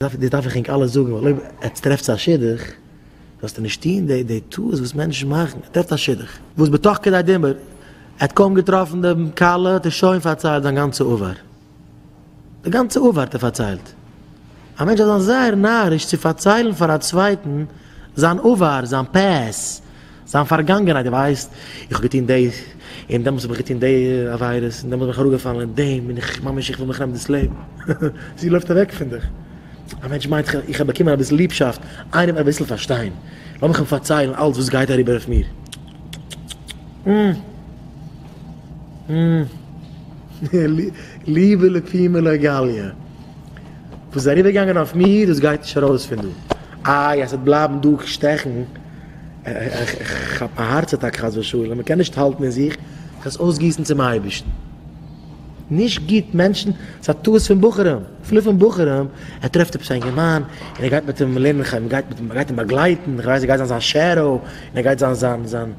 דאס דארף איך ענק אלע זאגן, ווייל אויב עטס טרעפטס א שידוך, זאלסטו נישט טון די די טעות וואס מענטשן מאכן, ער טרעפט א שידוך, וואס בתוך כדי דיבור, ער האט קוים געטראפן די כלה האט ער שוין פארציילט זיין גאנצע עבר, די גאנצע עבר האט ער פארציילט, א מענטש דארף זיין זייער נאריש צו פארציילן פאר א צווייטן זיין עבר, זיין פעסט. זיין פארגאנגענהייט, דו ווייסט, איך האב געטון דאס, און דעמאלטס האב איך געטון די עבירות, און דעמאלטס בין איך אראפגעפאלן אין דעם, און איך, ממש איך וויל מיך נעמען דאס לעבן. זי לויפט אוועק פון דיך. א מענטש מיינט, איך, איך האב באקומען אביסל ליבשאפט, איינער וועט אביסל פארשטיין, לאז מיך אים פארציילן אלץ וואס גייט אריבער אויף מיר. ליבע לפעמים לא גליא. וואס איז אריבערגעגאנגען אויף מיר, דאס גייט נישט ארויס פון דא. איי, אז ס'וועט בלייבן דא שטעכן. איך כאפ א הארץ אטאק חס ושלום, איך קען נישט האלטן אין זיך, איך וועל עס אויסגיסן צום אייבערשטן, נישט גוט מענטשן, ס'איז א טעות פון בחורים, אפילו פון בחורים, ער טרעפט עפעס א אינגערמאן און ער גייט מיט אים לערנען חיים, גייט מיט אים, גייט אים באגלייטן, איך ווייס ער גייט זיין זיין שעדאו, און ער גייט זיין זיין זיין,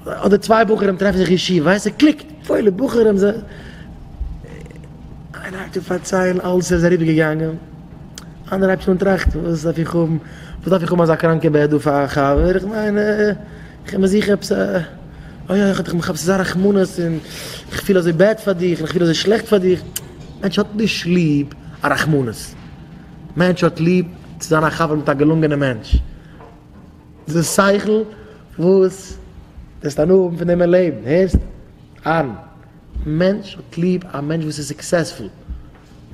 אדער צוויי בחורים טרעפן זיך אין ישיבה, ווייסט ער קליקט, פוילע בחורים, זיי, איינער הייבט אן פארציילן אלעס ער איז אריבער געגאנגען. איינער הייבט אן טראכטן וואס דארף איך האבן, וואס דארף איך האבן אזא קראנקע בעט דא פאר א חבר, איך מיין איך בין זיכער עפעס א, אוי אוי איך האב אזא רחמנות און איך פיל אזוי בעד פאר דיך און איך פיל אזוי שלעכט פאר דיך, מענטש האט נישט ליב א רחמנות, מענטש האט ליב צו זיין א חבר מיט א געלונגענע מענטש, די שכל וואס וועסט הנאה האבן פון דעם אין לעבן, הערסט? אן מענטש האט ליב א מענטש וואס איז סוקסעספול.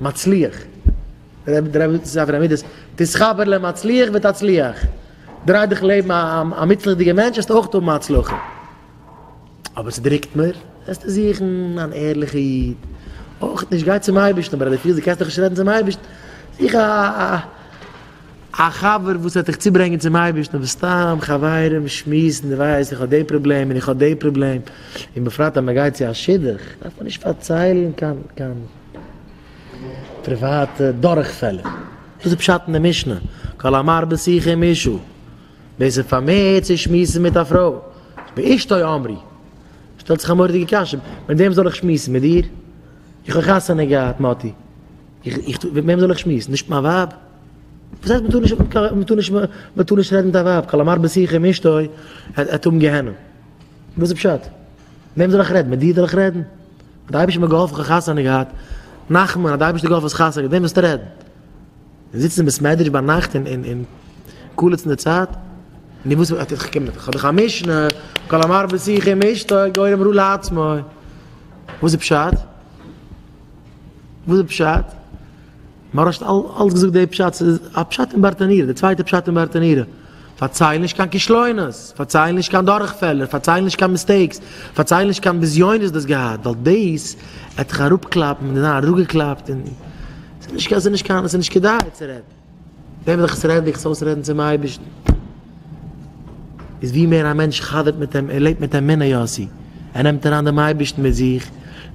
מצליח, דער רבי זאגט ספר המידות, תתחבר למצליח ותצליח, דריי דיך לעבן א מוצלח'דיגער מענטש וועסטו אויך האבן הצלחה, אבער ס'דרוקט מיר, וועסטו זוכן אן ערליכע איד, אויך נישט, גיי צום אייבערשטן, אבער אז דו פילסט דו קענסט דאך נישט רעדן צום אייבערשטן, זוך א. א חבר וואס וועט דיך צוברענגען צום אייבערשטן, אבער סתם חברים שמועסן, דו ווייסט איך האב די פראבלעם און איך האב די פראבלעם, און בפרט אז מען גייט צו א שידוך דארף מען נישט פארציילן קיין קיין פריוואטע דורכפעלער, דאס איז פשט אין די משנה, כל המרבה שיחה עם אשתו, ווער ס'איז פארמערט צו שמועסן מיט א פרוי, באשתו אמרי, שטעלט זיך א מורא'דיגע קשיא, מיט וועם זאל איך שמועסן, מיט דיר? איך האב חתונה געהאט מאטי. איך, מיט וועם זאל איך שמועסן? נישט מיין ווייב? וואס הייסט מ'טאר נישט, מ'טאר נישט, מ'טאר נישט רעדן מיט א ווייב? כל המרבה שיחה עם אשתו העט האבן גיהנום. וואס איז פשט? מיט וועם זאל איך רעדן? מיט דיר זאל איך רעדן? האט די אייבערשטער מיר געהאלפן כ'האב חתונה געהאט. נחמן, האט די אייבערשטער געהאלפן האסט חתונה געהאט, מיט וועם וועסטו רעדן? און זיצן אין בית מדרש ביינאכט און און קלעצן די צייט, נו וואס וויל, איך קום ניט, כ'האב דאך א משנה, כל המרבה שיחו עם אשתו גורם רע לעצמו, וואס איז פשט? וואס איז פשט? מהרש האט אלץ געזאגט די פשט, ס'איז א פשט אין ברטנורא, די צווייטע פשט אין ברטנורא. פארצייל נישט קיין כישלונות, פארצייל נישט קיין דורכפעלער, פארצייל נישט קיין מיסטעיקס, פארצייל נישט קיין בזיונות דו האסט געהאט, ווייל דאס וועט דיך אראפקלאפן, מען איז נאר אראפגעקלאפט און ס'איז נישט ס'איז נישט קיין ס'איז נישט כדאי צו רעדן. ווען וועל איך עס רעדן, וועל איך עס אויסרעדן צום אייבערשטן. איז ווי מער א מענטש חזר'ט מיט אים, ער לעבט מיט אמונה יוסי, ער נעמט אריין דעם אייבערשטן מיט זיך,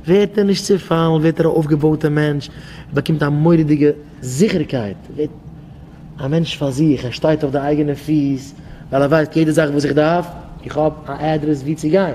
ווערט ער נישט צעפאלן, ווערט ער א אויפגעבויטע מענטש, ער באקומט א מורא'דיגע. זיכערקייט ווערט א מענטש פאר זיך, ער שטייט אויף די אייגענע פיס, ווייל ער ווייסט יעדע זאך וואס איך דארף, איך האב א אדרעס וואו צו גיין.